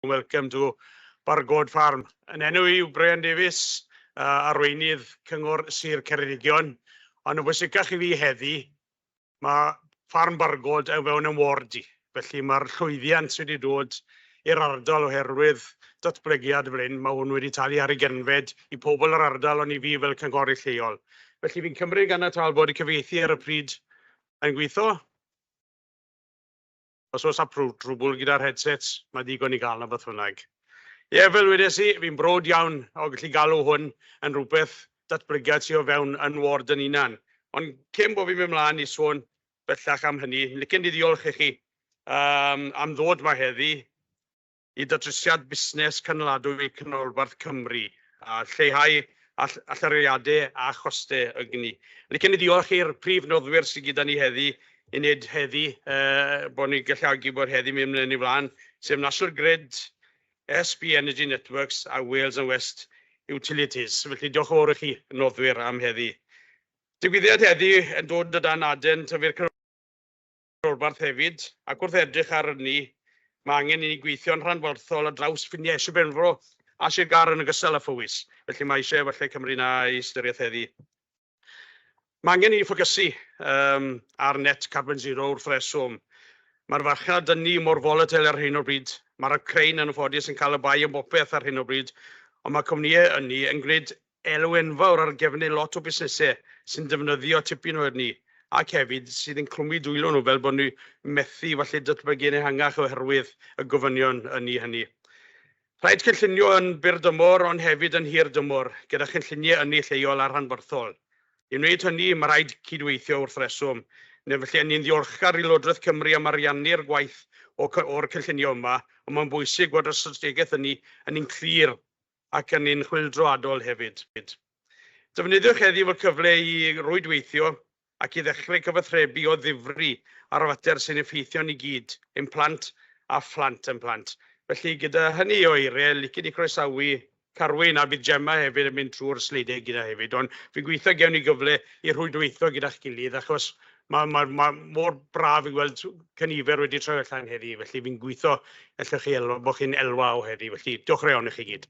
Welcome to Bargod Farm. Yn enw i yw Brian Davies, Arweinydd Cyngor Sir Ceredigion, ond yn bwysicach i fi heddi, mae Ffarm Bargod o fewn yn ward i, felly mae'r llwyddiant sydd wedi dod i'r ardal oherwydd datblygiad fel hyn, mae hwn wedi talu ar ei genfed i pobl yr ardal ond i fi fel cynghorydd lleol. Felly fi'n cymryd ganiataol bod y cyfieithu ar y pryd yn gweithio. Os oes â trwbwl gyda'r headsets, mae digon i gael 'na beth bynnag. Ie, fel wedes i, fi'n brod iawn o gallu galw hwn yn rhywbeth datblygiad tu o fewn yn ward yn hunan. Ond cyn bo fi'n mynd mlaen i sôn bellach am hynny, licen i ddiolch i chi am ddod 'ma heddi. i Ddatrysiad Busnes Cynaladwy Canolbarth Cymru, a lleihau allyriadau a chostau ynni. Licen i ddiolch i'r prif noddwyr sydd gyda ni heddi, i wneud heddi, bod ni'n galluogi bod heddi mynd yn ei flaen, sef National Grid, SB Energy Networks a Wales and West Utilities. Felly, diolch yn fawr i chi, noddwyr, am heddi. Digwyddiad heddi yn dod o dan adran tyfu'r rhanbarth hefyd, ac wrth edrych ar ynni, mae angen i ni gweithio'n rhanbarthol ar draws ffiniau Sir Benfro a Sir Gâr yn ogystal â Phowys, felly mae eisiau efallai Cymru yna i ystyriaeth heddi. Mae angen i ni ffocysu um, ar net carbon zero wrth reswm. Mae'r farchnad ynni mor volatile ar hyn o'r bryd, mae'r Ukraine yn y ffodus yn cael y bai am bopeth ar hyn o'r bryd, ond mae cwmnïau ynni yn gwneud elw enfawr ar gefnau lot o busnesau sy'n defnyddio tipyn o yrni, ac hefyd sydd yn clwmu dwylo nhw fel bod nhw methu falle datblygu yn ehangach oherwydd y gofynion ynni hynny. Rhaid cynllunio yn byr dymor ond hefyd yn hir dymor, gyda chynlluniau ynni lleol a rhanbarthol. I wneud hynny, mae rhaid cydweithio wrth reswm, neu felly a ni'n ddiolchgar i Lywodraeth Cymru am ariannu'r gwaith o o'r cynllunio yma, ond mae'n bwysig bod y strategaeth ynni ynni'n clir ac yn un chwyldroadol hefyd. Defnyddiwch heddiw fel cyfle i rwydweithio ac i ddechrau cyfathrebu o ddifri ar fater sy'n effeithio ni gyd, ein plant a phlant ein plant. Felly, gyda hynny o eiriau, licen i groesawu Carwyn, a bydd Gemma hefyd yn mynd trwy'r sleidiau gyda hefyd, ond fi'n gobeithio gewn ni gyfle i rhwydweithio gyda'ch gilydd, achos Mae, mae, mae mor braf i weld cynifer wedi troi allan heddi, felly fi'n gweithio allwch chi elwa, bod chi'n elwa o heddi, felly diolch yn iawn i chi gyd.